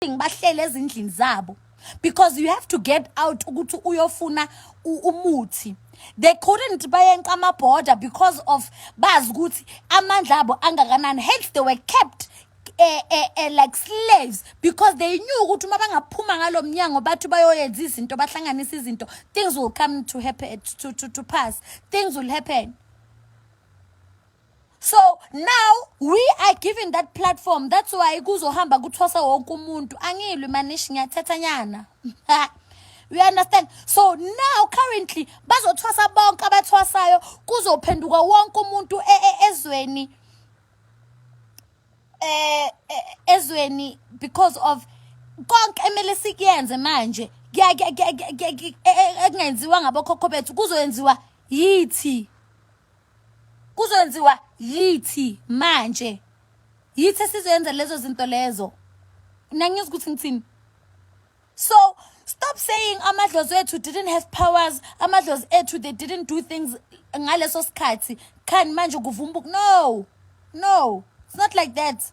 abaningi bahlele ezindlini zabo because you have to get out ukuthi uyofuna umuthi they couldn't bayenqa ama-border because of bazi ukuthi amandla abo angakanani hence they were kept eh, eh, eh, like slaves because they knew ukuthi uma bangaphuma ngalo mnyango bathi bayoyenza izinto bahlanganisa izinto things will come to happen to, to, to pass things will happen so now we are given that platform that's why kuzohamba kuthwasa wonke umuntu angilwi manishi ngiyathetha nyana you understand so now currently bazothwasa bonke abathwasayo kuzophenduka wonke umuntu e, e, ezweni eh e, ezweni because of konke emele sikuyenze manje kungenziwa ngabokhokho bethu kuzoyenziwa yithi Kuzokwenziwa yithi manje. Yithi esizoyenza lezo zinto lezo. Nangizwa ukuthi ngithini. So stop saying amadlozi ethu didn't have powers, amadlozi ethu they didn't do things ngaleso sikhathi. Khan manje kuvumbuka. No. No. It's not like that.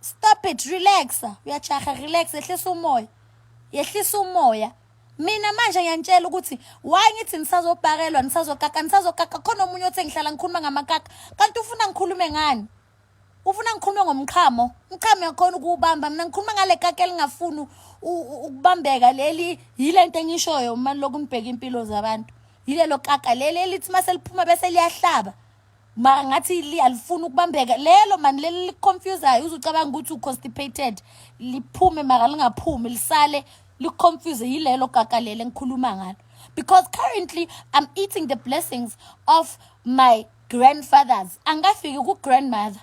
stop it relaxa uyajaha relax yehlisa umoya yehlisa umoya mina manje ngiyanitshela ukuthi why ngithi nisazobhakelwa nisazokaka nisazokaka khona omunye othe ngihlala ngikhuluma ngamakaka kanti ufuna ngikhulume ngani ufuna ngikhulume ngomqhamo umqhamo yakhona ukuwubamba mina ngikhuluma ngale kaka elingafuni ukubambeka leli yile nto engishoyo uma lokhu ngibheka impilo zabantu yilelo kaka leli elithi uma seliphuma bese liyahlaba ma ngathi li alifuni ukubambeka lelo mani leli liconfusayo uzucabanga ukuthi uconstipated liphume maka lingaphumi lisale liconfuse yilelo kaka lele ngikhuluma ngalo because currently i'm eating the blessings of my grandfathers angafiki ku-grandmother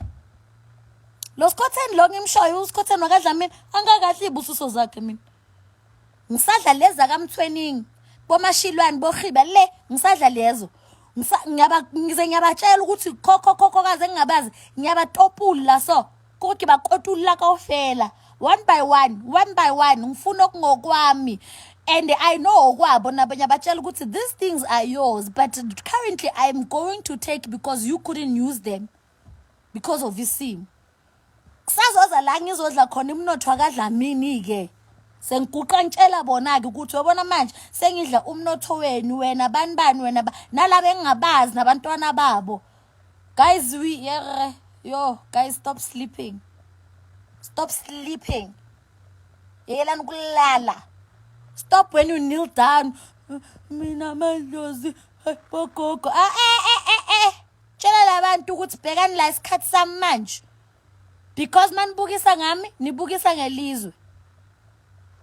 lo skhotheni lo ngimshoyo uskhotheni wakadlamini angakahle iy'busiso zakhe mina Ngisadla lezi zakaMthweningi, boMashilwane, boRhiba le ngisadla lezo. Ngisa- ngiyaba- Ngize ngiyabatshela ukuthi khokhokhokhokazi engingabazi ngiyabatopula so kodwa bakotula kofela one by one one by one ngifuna okungokwami and i know okwabo nabo ngiyabatshela ukuthi these things are yours but currently i'm going to take because you couldn't use them because of isimo kusazoza la ngizodla khona umnotho wakadlamini-ke sengiguqa ngitshela bona-ke ukuthi uyobona manje sengidla umnotho wenu wena bani bani wena nalaba engingabazi nabantwana babo guys we yere yo guys stop sleeping stop sleeping yekelani ukulala stop when you kneel down mina madlozi bogogo ah, eh, eh, eh, eh. Tshela labantu ukuthi bhekani la isikhathi sami manje. Because manibukisa ngami, nibukisa ngelizwe.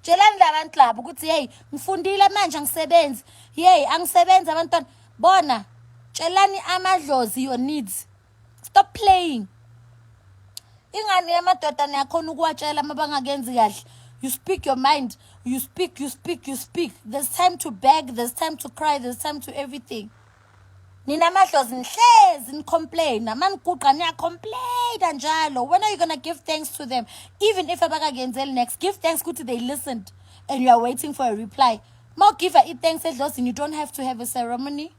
Tshelani labantu labo ukuthi hey ngifundile manje angisebenzi. Hey angisebenzi abantwana. Bona tshelani amadlozi your needs. Stop playing. Ingane yamadoda niyakhona ukuwatshela mabangakenzi kahle. You speak your mind. You speak, you speak, you speak. There's time to beg, there's time to cry, there's time to everything. Nina madlozi nihlezi nicomplaina maniguqa niyacomplaina njalo when are you gonna give thanks to them even if abakakenzeli next give thanks ukuthi they listened and you are waiting for a reply ma ugiva i-thanks edlozini you don't have to have a ceremony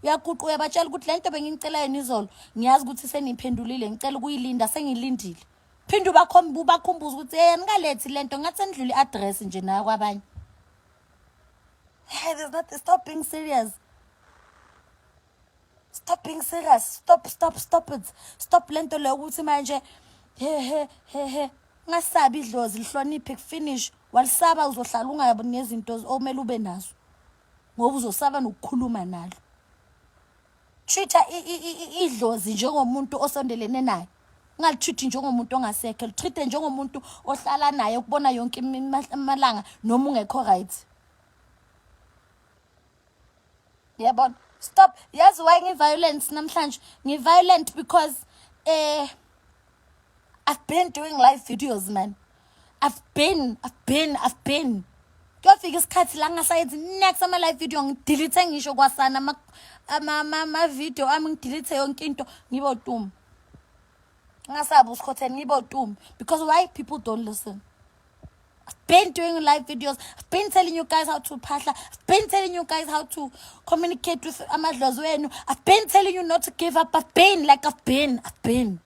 uyaguqa uyabatshela ukuthi le nto bengingicela yona izolo ngiyazi ukuthi seniphendulile ngicela ukuyilinda sengilindile phinde ubakhomba ubakhumbuza ukuthi yeyani ngalethi le nto ngathi senidlula i-address nje nayo kwabanye Hey, there's nothing. Stop being serious. Stop being serious. Stop, stop, stop it. Stop lento leyo ukuthi manje he he he he ngasabi idlozi lihloniphe kufinish walisaba uzohlala ungayabi nezinto okumele ube nazo ngoba uzosaba nokukhuluma nalo Treat-a idlozi njengomuntu osondelene naye. Ungalitreat njengomuntu ongasekho, litreat njengomuntu ohlala naye ukubona yonke amalanga noma ungekho right. Yabona? Stop. Yazi why ngi-violence namhlanje? Ngi-violent because eh I've been doing live videos man. i've been i've been i've been kuyofika isikhathi la ngingasayenzi next ama live video ngidelete ngisho kwasana ama ama ama video ami ngidelete yonke into ngibo tum ngasabu usikhotheni ngibo tum because why people don't listen I've been doing live videos. I've been telling you guys how to pasha. I've been telling you guys how to communicate with Amadlozwenu. I've been telling you not to give up. I've been like I've been. I've been.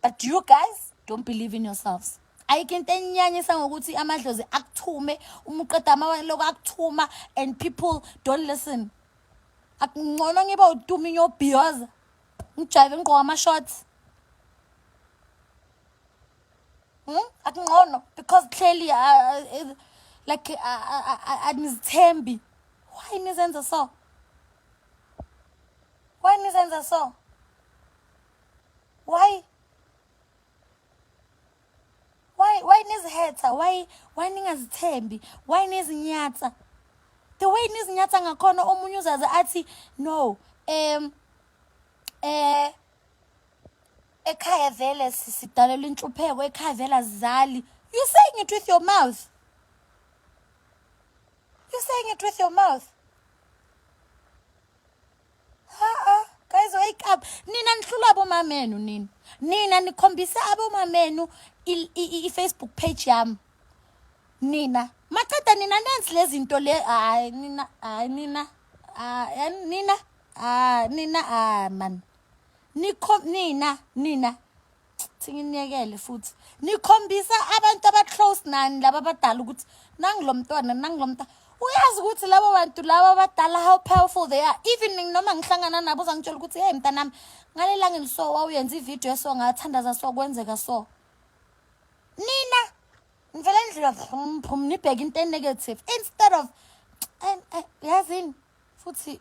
but you guys don't believe in yourselves ayikho into enyanyisa ngokuthi amadlozi akuthume uma uqeda amaloko akuthuma and people don't listen akungcono ngiba utumi nyobhiyoza ngijayive ngigqoka ama-shorts hmm? akungcono because clearly uh, uh, like anizithembi uh, uh, uh, why nizenza so Why nizenza so? Why? Why why nizihetha? Why why ningazithembi? Why nizinyatsa? The way nizinyatsa ngakhona omunye uzaze athi no um eh ekhaya vele sidalelwa inhlupheko ekhaya vele azizali you saying it with your mouth you saying it with your mouth abomamenu nina nina nikhombisa abomamenu i-facebook page yami nina maqeda nina nenzi lezi nto le hayi nina hayi nina nina nina man nina nina thinginiyekele futhi nikhombisa abantu abaclose nani laba abadala ukuthi nangilo mntwana nangilo mntwana uyazi ukuthi labo bantu laba abadala how powerful they are even noma ngihlangana nabo uzangitshela ukuthi hey mntanami ngalelangeni so wawuyenza ividiyo eso ngathandaza so kwenzeka so nina ngivele ndlela phum nibheke into enegative instead of yazini futhi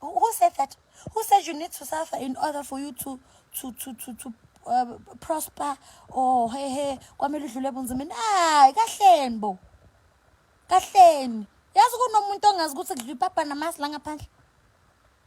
Who, who said that? Who said you need to suffer in order for you to to to to to uh, prosper or hey hey kwamele udlule ebunzimeni hayi kahleni bo kahleni yazi kunomuntu ongazi ukuthi kudla ipapa namasi la ngaphandle